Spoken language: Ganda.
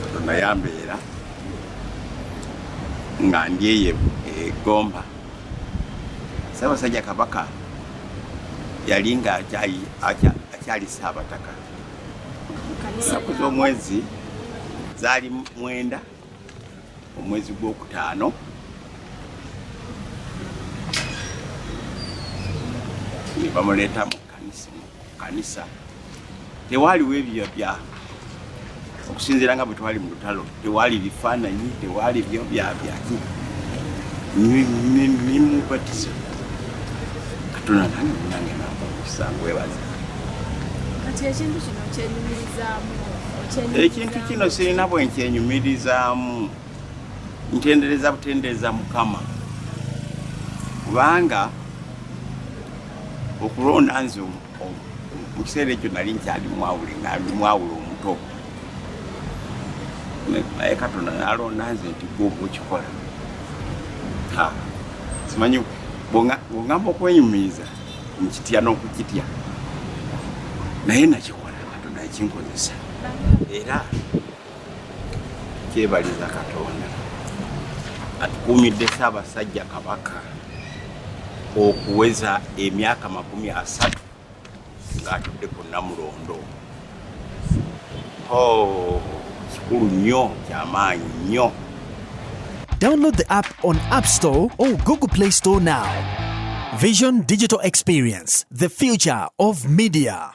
katonda yambeera nga ndyeyo egomba sabasajja kabaka yali nga akyali saabataka saku z'omwezi zaali mwenda omwezi gwokutaano nebamuleeta mu kanisa tewaaliwo ebyo bya okusinziira nga bwe twali mu lutalo tewaali bifaananyi tewaali byo byabyaki mimubatizo katonda nange munange namusangu webaza kati ekintu kino kyenyumirizaamu ekintu kino sirina bwenkyenyumirizaamu ntendereza butendereza mukama kubanga okulonda nze mu kiseera ekyo nali nkyali mwawule nali mwawule omuto naye katonda nalonda nze nti gwe okukikola simanyi bwongamba okwenyumiriza nkitya n'okukitya naye nakikola katonda yakinkozesa era kyebaliza katonda atukuumidde ssaabasajja kabaka okuweza emyaka makumi asatu ng'atudde ku namulondo oh, kikulu nnyo kyamaanyi nnyo Download the app on App Store or Google Play Store now. Vision Digital Experience, the future of media.